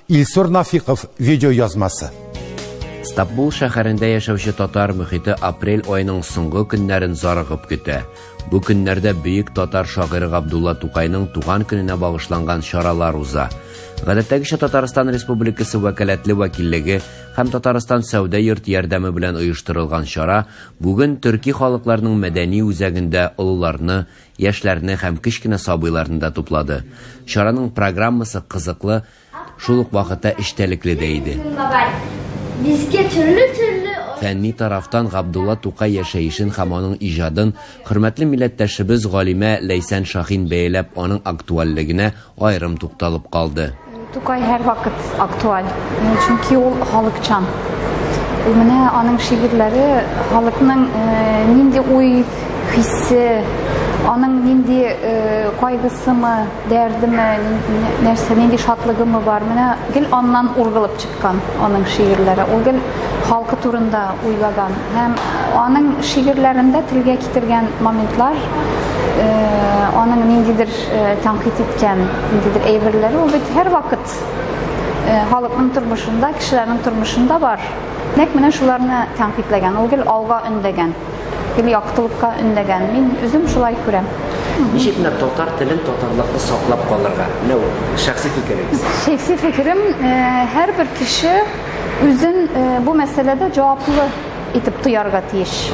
Илсур Нафиков видеоязмасы. Стамбул шәһәрендә яшәүче татар мөхите апрель айының соңгы көннәрен зарыгып көтә. Бу көннәрдә бөек татар шагыйры Габдулла Тукайның туган көненә багышланган чаралар уза. Гадәттәгечә Татарстан Республикасы вәкаләтле вәкиллеге һәм Татарстан сәүдә йорт ярдәме белән оештырылган чара бүген төрки халыкларның мәдәни үзәгендә олыларны, Яшьләрне һәм кечкенә сабыйларны да туплады. Чараның программасы кызыклы, шул ук вакытта эчтәлекле дә иде. Безгә төрле-төрле Фәнни тарафтан Габдулла Тукай яшәешен һәм аның иҗадын хөрмәтле милләттәшебез галимә Ләйсән Шаһин бәяләп, аның актуальлегенә, аерым тукталып калды. Тукай һәрвакыт актуаль, чөнки ул халыкчан. Ул менә аның шигырьләре халыкның нинди уй, хисе, аның нинди кайгысымы, дәрдеме, нәрсә, нинди шатлыгымы бар, менә гел аннан ургылып Кан аның шигырьләре ул гел халкы турында уйлаган һәм аның шигырьләрендә телгә китергән моментлар, э, аның ниндидер э, тәнкыйть иткән ниндидер әйберләре ул бит һәрвакыт э, халыкның тормышында, кешеләрнең тормышында бар. Нәкъ менә шуларны тәнкыйтьләгән, ул гел алга өндәгән. Гел яктылыкка өндәгән. Мин үзем шулай күрәм. Ничек менә татар телен, татарлыкны саклап калырга? Менә ул шәхси фикерегез. Шәхси фикерем, э, һәрбер кеше үзен э, бу мәсьәләдә җаваплы итеп тоярга тиеш.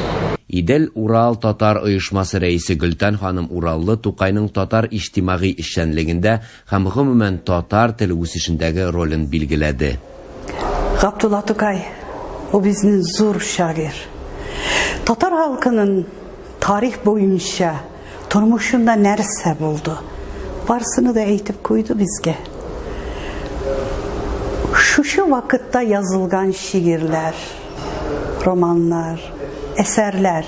Идел Урал татар оешмасы рәисе Гөлтән ханым Ураллы Тукайның татар иҗтимагый эшчәнлегендә Һәм гомумән татар теле үсешендәге ролен билгеләде. Габдулла Тукай, бу безнен зур шагыйрь. Татар халкынын тарих буенча тормышында нәрсә булды, барсыны да әйтеп куйды безгә. Шушы вакытта язылган шигырьләр, романнар, әсәрләр,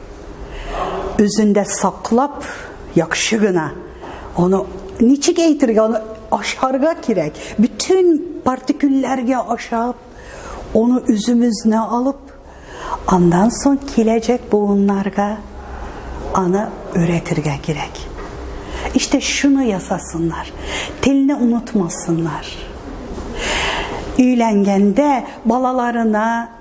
үзендә саклап, яхшы гына аны ничек әйтергә, аны ашарга кирәк. Бөтен партикулләргә ашап, аны үзебезне алып, андан соң киләчәк буыннарга аны өйрәтергә кирәк. Иште шуны ясасыннар. Телне онытмасыннар. Өйләнгәндә балаларына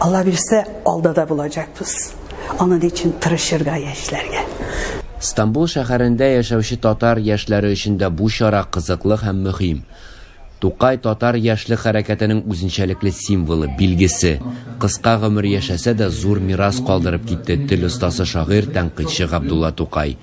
Алла бирсә, алда да булачакбыз. Аның өчен тырышырга яшьләргә. Стамбул шәһәрендә яшәүче татар яшьләре өчен дә бу чара кызыклы һәм мөһим. Тукай, татар яшьлек хәрәкәтенең үзенчәлекле символы, билгесе. Кыска гомер яшәсә дә, зур мирас калдырып китте тел остасы-шагыйрь, тәнкыйтьче Габдулла Тукай.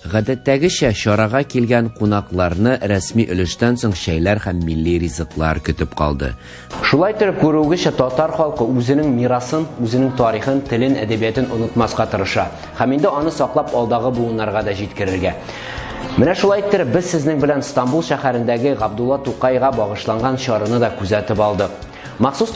Гадәттәгечә, чарага килгән кунакларны рәсми өлештән соң чәйләр һәм милли ризыклар көтеп калды. Шулай итеп, күрүегезчә, татар халкы үзенең мирасын, үзенең тарихын, телен, әдәбиятын онытмаска тырыша һәм инде аны саклап алдагы буыннарга да җиткерергә. Менә шулай иттереп, без сезнең белән Стамбул шәһәрендәге Габдулла Тукайга багышланган чараны да күзәтеп алдык. Махсус